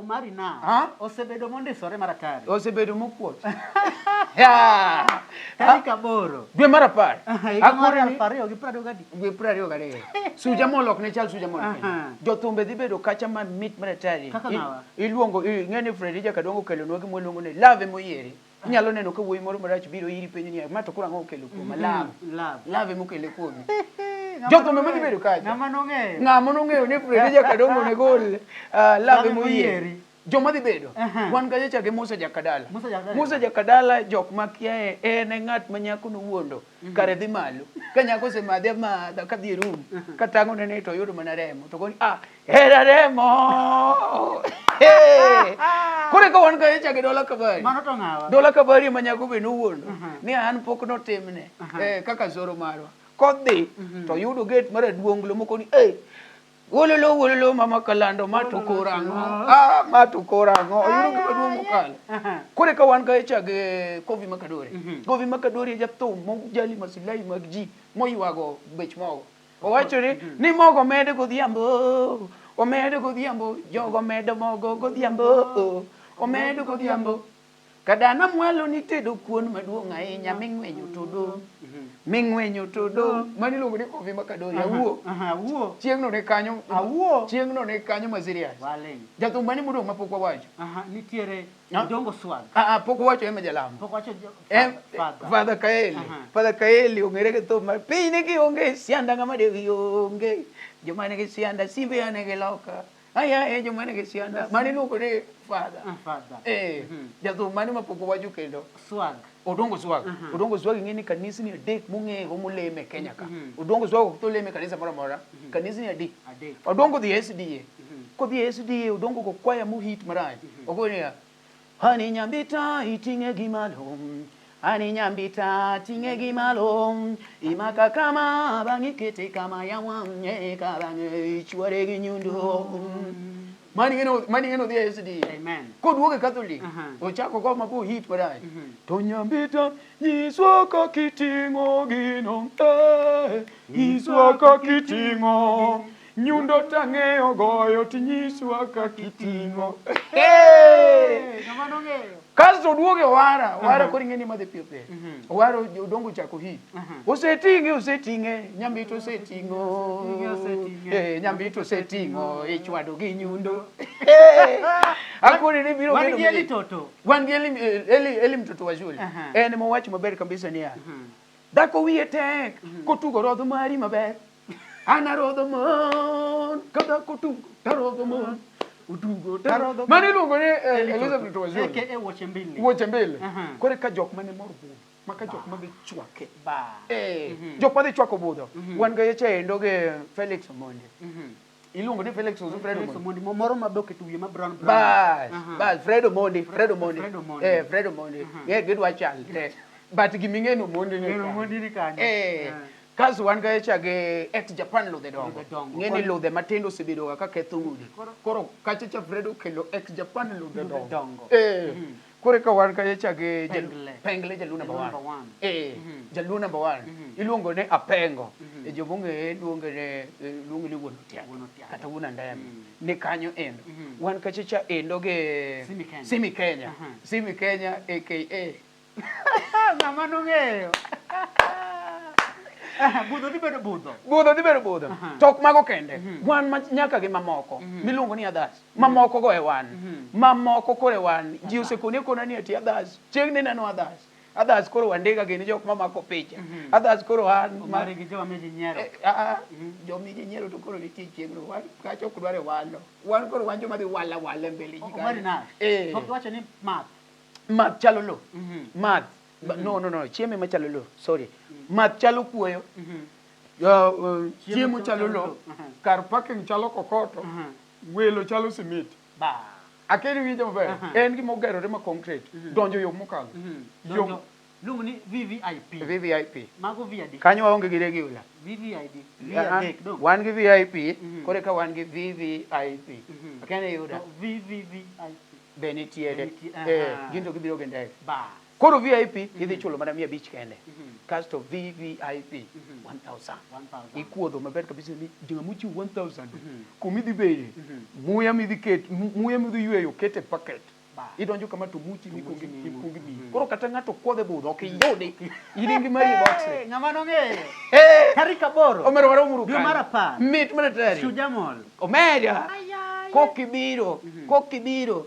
Omari na ah? osebedo mondisore maratari. Osebedo mokuot. yeah. Tarik ah? aboro. Dwe mar apar. Akore ni ariyo gi prado gadi. Dwe prado gadi. Suja molok ne chal suja molok. Jothumbe dhi bedo kacha man mit maratari. Kaka nawa. Iluongo ng'e ni Fredija Kadongo kelonwa gimwa luongo ni love moyieri. Inyalo neno ka wuoyi moro marach biro iri penjo niya, ma to koro ang'o okelo kuoma? Mm-hmm. Love. Love. Love ema okele kuomi. Jothumbe ma gibedo kacha. Ng'ama nong'eyo. Ng'ama nong'eyo ni Fredi Jakadongo ne gol uh, love ema oyieri. Joma dhi bedo. Uh-huh. Wan kacha chake Musa Jakadala. Musa Jakadala. Musa Jakadala jok ma kiaye en e ng'at ma nyako nowuondo. kare dhi malo ka nyako osemadhe amadha kadhi e rum katang'o nene to oyudo mana remo to koni ah hera remo kore ka wan kae chake dola kabari dola kabari ma nyako be nowuondo ni an pok notimne eh, kaka zoro marwa kodhi mhm. to yudo gate mar aduonglo moko ni eh Wololo wololo mama kalando ma to koro ang'o? Ah ma to koro ang'o? Oyudo gima duong' mokalo. Koro ka wan ka chag eh, Kovi Makadore. Mhm. Kovi Makadore e jathum mojali maslahi mag ji moywago bech mogo. Owacho ni mhm. ni mogo med godhiambo. Omed godhiambo, jogo medo mogo godhiambo. Omed godhiambo. Kadana mwalo nitedo kuon maduong' ahinya ming'wenyo to dong'. Ming'wenyo to dong'. Mani iluongo ni Koffi Makadori. Awuo. Aha, awuo. Chieng'no ne kanyo. Awuo. Chieng'no ne kanyo ma serious. Waling'. Jathum mane modong' ma pok wawacho? Aha, nitiere Ah. Odongo Swag. Ah, ah, pok wawacho Emma Jalamo. Pok wacho jo- Em, Father. Father Kaeli. Aha. Father Kaeli ong'ere gi thum mar piny ni kionge sianda ng'ama dewi onge. Joma nigi sianda simbe ane gi loka. Aya e joma nigi sianda mane iluongo ni father. Ah, father. Eh, Mhm. jathum mane ma pok owacho kendo. Swag. Odongo Swag. Mhm. Odongo Swag ing'e ni kanisni adek mong'eyego moleme e Kenya ka. Mhm. Odongo Swag ok to leme e kanisa moro amora. Kanisni adi. Adek. Odongo dhi e SDA. Mhm. Kodhi e SDA Odongo go kwaya mohit marach. Ogo niya, Ani nyambita iting'e gi malo Ani nyambita ting'e gi malo Imaka kama bang'e ikete kama ya wang'e Ka bang'e ichwore gi nyundo Mani en o- mani en odhi e SD Amen. Koduogo e Catholic Aha. ochako go mabu hit marach To nyambita nyiswa kaka iting'o gino eh, Nyiswa kaka iting'o Nyundo tang'eyo goyo tinyiswa kaka iting'o. Kasto oduogo e Owara, Owara koro ing'e ni madhi piyo piyo. Owara odongo chako hit. Oseting'e, oseting'e, nyambito oseting'o. Eh, nyambito oseting'o, ichwado gi nyundo. Eh, Akoni ni biro Wan bedo gi Eli maji. Toto. Wan gi Eli, Eli, Eli mtoto wa shule. Aha. En mowacho maber kabisa niya, dhako wiye tek kotugo rodho mari maber anarodho mon kadha kotugo tarodho mon otugo tarodho mane iluongo ni eh, Elizabeth Waziri Eke e wuoche mbili. wuoche mbili Aha. kore ka jok mane mor budho ma ka jok madhi chwake Ba. Eh, jok madhi chwako budho wan ga yeche endo gi Felix Omondi Mhm. iluongo ni Felix Omondi. Fred Omondi moro ma bok eto wiye ma brown brown. Bas, bas Fred Omondi, Fred Omondi. Eh, Fred Omondi. Yeah, gidwa chal te. But giming'e no Omondi ni. Omondi ni kanyo. Eh. Kas wan ga echa gi ex Japan ludhe dongo. Ng'e ni ludhe matindo osebedo ga ka ketho udi. Koro kacha cha Fred okelo ex Japan ludhe dongo. Eh. Mhm. Koro eka wan ka cha gi Pengle. Pengle jaluo number Jaluo number 1. one. Eh, jaluo number 1. Iluongo ni Apengo. E joma ong'eye luonge ni eh, luonge ni wuon Otiato Wuon Otiato. kata wuon Andeme. Ni kanyo endo. Wan ka cha cha endo gi Simi Kenya. Simi Kenya. Aha. Simi Kenya aka Ng'ama nong'eyo. Aha, Budho dhi bedo budho. budho dhi bedo budho. Aha. To ok mago kende. Wan ma- nyaka gi mamoko miluongo ni adhas. ma moko go e wan ma moko koro e wan ji osekoni akona ni ati others chieng ni neno others others koro wandiga gini jok ma mako picha others koro an Omari gi jo mami ji nyiero. Eh, ah, ah, jomi ji nyiero to koro nitie chieng no wan kacha ok dware walo wan koro wan joma dhi wala wala e mbele ji Omari na. eh Pok iwacho ni math. math chalo lo math Ba- no no no chiemo ema chalo lo sorry math chalo kuoyo Uh, uh, chiemo chalo lo kar parking chalo kokoto Welo chalo simiti. Akia niwinja maber. En gima ogerore ma concrete. Donjo yo mokalo. Yo. Luongo ni VVIP. VVIP. Mago vi adi? Kanyo waonge gi regular. VVID. Vi adek dong. Wan gi VIP, koro eka wan gi VVIP. Akia ni iyuda. To VVVIP. Be nitiere. Be nitiere. Gin to gibiro gi ndege. Bas. Koro VIP mm -hmm. idhi chulo mana mia abich kende mm -hmm. kasto VVIP mm -hmm. 1000 ikuodho maber kabisa ni joma mochiw 1000 mm -hmm. kumi dhi beye mm -hmm. muya midhi ket muya midhi yweyo kete packet idonjo kama to muchi mikungi mikungi mi mhm. koro kata ng'ato kwodhe budho ok iyudi iringi mari e box eh, ng'ama nong'eyo eh! tarik aboro omero waro muru dwe mar apar mit mana tari shujamol omera kokibiro mhm. kokibiro